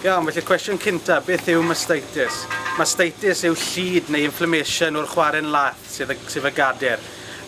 Iawn, felly cwestiwn cynta, beth yw mastitis? Mastitis yw llid neu inflammation o'r chwarren lath, sydd, sydd y gader.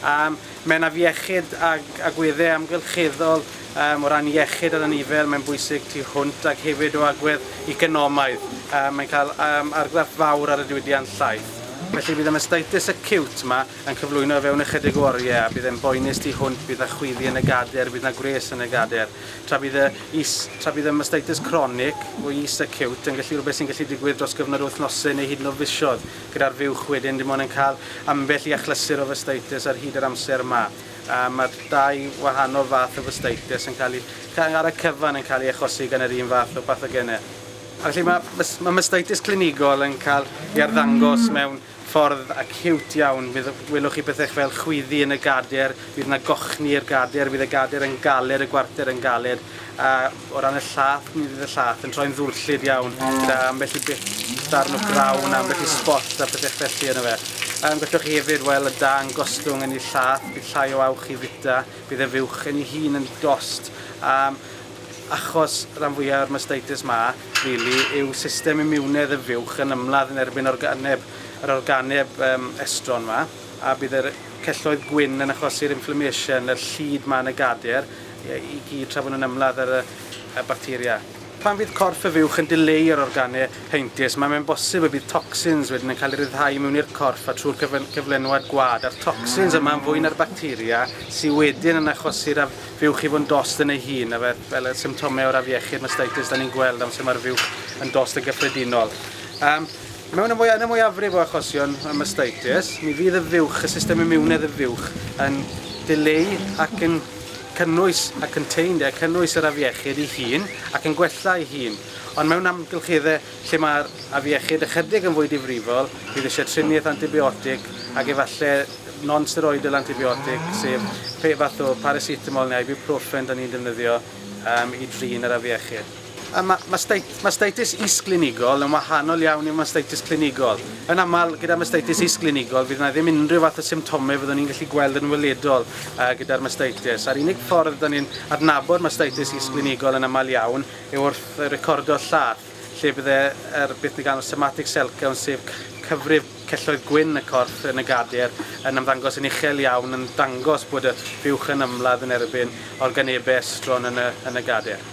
Um, mae'n afiechyd ag agweddau amgylcheddol um, o ran iechyd ar anifel, mae'n bwysig tu hwnt ac hefyd o agwedd economaidd. Um, mae'n cael um, argraff fawr ar y diwydiant llaeth. Felly bydd y mastitis acute yma yn cyflwyno fewn ychydig o oriau a bydd e'n boenus tu hwnt, bydd na chwyddi yn y gader, bydd na gwres yn y gader. Tra bydd y is, tra bydd y mastitis cronig, o is acute, yn gallu rhywbeth sy'n gallu digwydd dros gyfnod o wythnosau neu hyd yn oed fisoedd, gyda'r fuwch wedyn dim ond yn cael ambell i achlysur o fastitis ar hyd yr amser yma. A mae'r dau wahanol fath o fastitis yn cael eu, ar y cyfan, yn cael eu achosi gan yr un fath o bathogenau. A felly mae, mae mastitis clinigol yn cael ei arddangos mewn ffordd a ciwt iawn, bydd, welwch chi pethau fel chwyddi yn y gader, bydd yna gochni i'r gader, bydd y gader yn galed, y gwarter yn galed, a o ran y llath, mi fydd y llath yn troi'n ddwllyd iawn, gyda ambell i bit darn o grawn, ambell i sbot a pethau felly yno fe. Um, gallwch chi hefyd, wel, y dan gostwng yn ei llath, bydd llai o awch i fita, bydd y fuwch yn ei hun yn dost, um, Achos ran fwya o'r mastitis ma, rili, yw system imiwnedd y fuwch yn ymladd yn erbyn organeb, yr organeb um, estron ma, a bydd yr celloedd gwyn yn achosi'r inflammation, yr llid ma yn y gader, i gyd tra bod nhw'n ymladd ar y, y bacteria. Pan fydd corff y fuwch yn dileu yr organe heintus, mae mae'n bosib y bydd toxins wedyn yn cael ei ryddhau mewn i'r corff a trwy'r cyflenwad gwad, a'r toxins yma'n fwy na'r bacteria sydd wedyn yn achosi'r Fuwch i fod yn dost yn ei hun, efe, fel y symptomau o'r afiechyd mastitis da ni'n gweld amser mae'r fuwch yn dost yn gyffredinol. Um, mewn y mwy, yn y mwyafrif o achosion y mastitis, mi fydd y fuwch, y system imiwnedd y fuwch, yn dileu ac yn cynnwys a contained, cynnwys yr afiechyd ei hun ac yn gwella ei hun. Ond mewn amgylcheddau Lle mae'r afiechyd ychydig yn fwy difrifol, bydd eisiau triniaeth antibiotig ac efallai non-steroidal antibiotic, sef pe fath o paracetamol neu ibuprofen da ni'n defnyddio um, i drin yr afiechyd. A mae mastitis is-glinigol yn wahanol iawn i mastitis clinigol. Yn aml, gyda mastitis is-glinigol, fydd yna ddim unrhyw fath o symptomau fyddwn ni'n gallu gweld yn weledol uh, gyda'r mastitis. A'r unig ffordd da ni'n adnabod mastitis is-glinigol yn aml iawn yw wrth recordio lladd, lle bydd yr beth ni'n galw'n somatic cell count, sef cyfrif celloedd gwyn y corff yn y gadair, yn ymddangos yn uchel iawn, yn dangos bod y buwch yn ymladd yn erbyn organebau estron yn y, yn y gadair.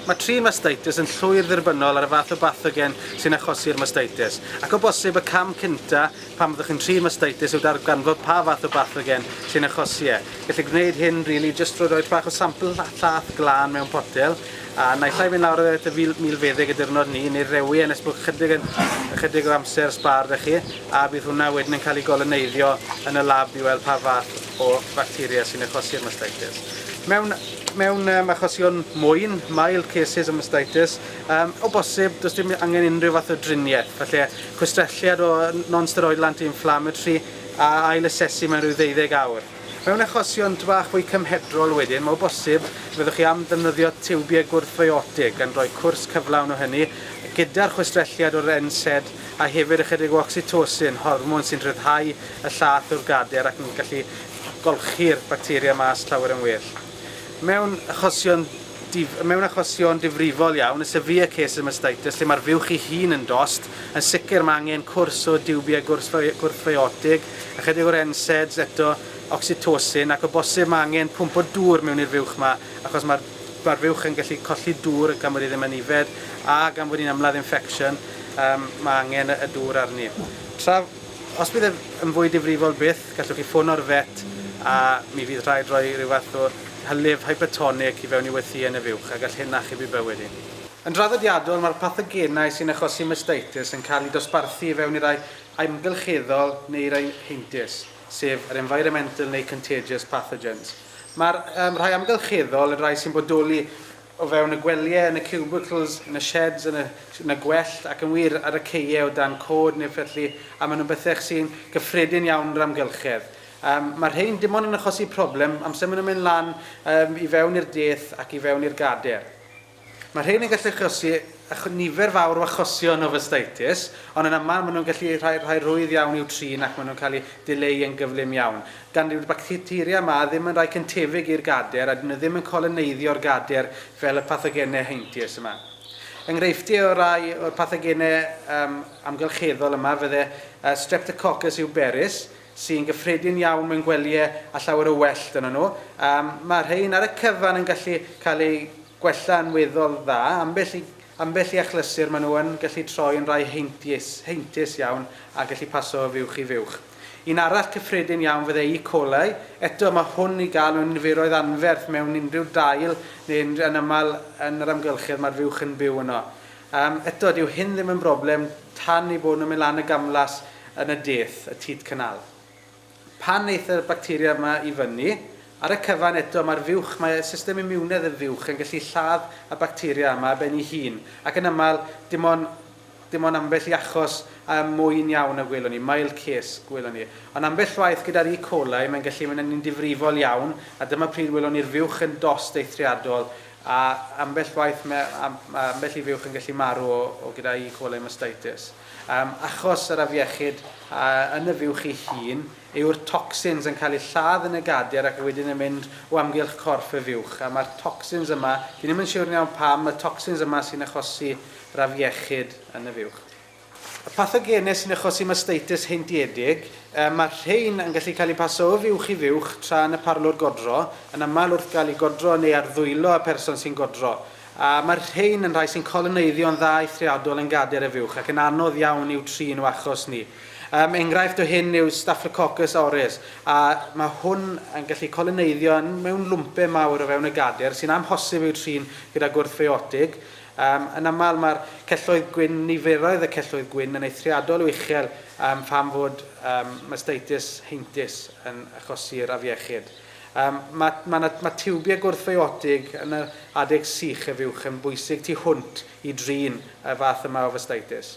Mae trin mastitis yn llwyr ddirbynnol ar y fath o bathogen sy'n achosi'r mastitis, ac o bosib y cam cyntaf Pan fyddwch chi'n trin mastitis yw darganfod pa fath o bathogen sy'n achosi e. Gellir gwneud hyn rili jyst drwy roi bach o sampl llath glân mewn potel a naill ai mynd lawr at y milfeddyg y diwrnod 'ny neu rewi e nes bod chydig yn ychydig o amser sbâr 'da chi a bydd hwnna wedyn yn cael ei goloneiddio yn y lab i weld pa fath o facteria sy'n achosi'r mastitis. Mewn mewn um, achosion mwyn, mild cases o mastitis, Yym, o bosib, does dim angen unrhyw fath o driniaeth, falle chwistrelliad o non-steroidal anti-inflammatory a ail-asesu mewn rhyw ddeuddeg awr. Mewn achosion tŷ bach fwy cymhedrol wedyn, mae o bosib y byddwch chi am ddefnyddio tiwbiau gwrthfiotig gan roi cwrs cyflawn o hynny gyda'r chwistrelliad o'r NSAID a hefyd ychydig o oxytocin, hormon sy'n rhyddhau y llaeth o'r gader ac yn gallu golchi'r bacteria mas llawer yn well. Mewn achosion dif-, mewn achosion difrifol iawn, y severe cases of mastitis, lle mae'r fuwch ei hun yn dost, yn sicr mae angen cwrs o diwbiau gwrthfy-, gwrthfiotig, ychydig o'r NSAIDs eto, oxytocin, ac o bosib mae angen pwmp o dŵr mewn i'r fuwch yma, achos mae'r, mae'r fuwch yn gallu colli dŵr gan fod hi ddim yn yfed, a gan fod hi'n ymladd infection, yym, mae angen y, y dŵr arni. Tra, os bydd ef yn fwy difrifol byth, Gallwch chi ffono'r vet a mi fydd rhaid rhoi rhyw fath o hylif hypertonic i fewn i wythïen y fuwch a gall hyn achubu bywyd i. Yn draddodiadol, mae'r pathogenau sy'n achosi mastitis yn cael eu dosbarthu i fewn i rai amgylcheddol neu i rai heintus, sef yr environmental neu contagious pathogens. Mae'r um, rhai amgylcheddol yn rhai sy'n bodoli o fewn y gwelyau, yn y cubicles, yn y sheds, yn y, yn y gwellt, ac yn wir, ar y caeau o dan côd neu felly, a maen nhw'n bethau sy'n gyffredin iawn yn yr amgylchedd. Um, mae rhein dim ond yn achosi problem amser maen nhw'n mynd lan um, i fewn i'r deth ac i fewn i'r gader. Mae rhein yn gallu achosi nifer fawr o achosion o fastaitis, ond yn aml maen nhw'n gallu rhai, rhai rhwydd iawn i'w trin ac maen nhw'n cael eu dileu yn gyflym iawn. gan yw'r bacteria yma ddim yn rhai cyntefig i'r gader a dyn nhw ddim yn coloneiddio yr gader fel y pathogenau heintus yma. Enghreifftiau o rai o'r pathogenau um, amgylcheddol yma fydde uh, Streptococcus euberus, sy'n gyffredin iawn mewn gwelyau a llawer o wellt yno nhw. Um, mae rhain ar y cyfan yn gallu cael eu gwella yn weddol dda, ambell i Ambell i achlysur maen nhw yn gallu troi yn rai heintius, heintus iawn, a gallu paso o fuwch i fuwch. Un arall cyffredin iawn fyddai E. coli, eto mae hwn i gael mewn niferoedd anferth mewn unrhyw dail neu yn yn aml yn yr amgylchedd mae'r fuwch yn byw yno. Yym, eto, dyw hyn ddim yn broblem tan ei bod nhw'n mynd lan y gamlas yn y deth, y teat canal. Pan aeth y bacteria yma i fyny, ar y cyfan eto mae'r fuwch, mae system imiwnedd y fuwch yn gallu lladd y bacteria yma ar ben ei hun, ac yn aml, dim ond, dim ond ambell i achos ym mwyn iawn y gwelwn ni, mild case, gwelwn ni. Ond ambell waith gyda'r E. coli mae'n gallu mynd yn un difrifol iawn, a dyma pryd welwn ni'r fuwch yn dost eithriadol, a ambell waith mae, mae ambell i fuwch yn gallu marw o, o gyda E. coli mastitis. Yym, achos yr afiechyd a yn y fuwch ei hun, yw'r tocsins yn cael eu lladd yn y gadir ac wedyn yn mynd o amgylch corff y fuwch. A mae'r tocsins yma, fi ddim yn siwr yn iawn pam, y tocsins yma sy'n achosi yr afiechyd yn y fuwch. Y pathogenau sy'n achosi masteitis heintiedig, yy, mae'r rhein yn gallu cael eu paso o fuwch i fuwch tra yn y parlwr godro, yn aml wrth gael eu godro neu ar ddwylo y person sy'n godro. A mae'r rhein yn rhai sy'n coloneiddio'n dda eithriadol yn gader y fuwch ac yn anodd iawn i'w trin o achos ni. Um, enghraifft o hyn yw Staphylococcus aureus, a mae hwn yn gallu coloneiddio mewn lwmpe mawr o fewn y gader sy'n amhosib i'w trin gyda gwrthfiotig. Um, yn aml mae'r celloedd gwyn, niferoedd y celloedd gwyn yn eithriadol o uchel um, pham fod um, mastitis heintus yn achosi'r afiechyd. Yym, ma', ma' 'na, ma' tiwbiau gwrthfiotig yn yr adeg sych a fuwch yn bwysig tu hwnt i drin y fath yma o fastitis.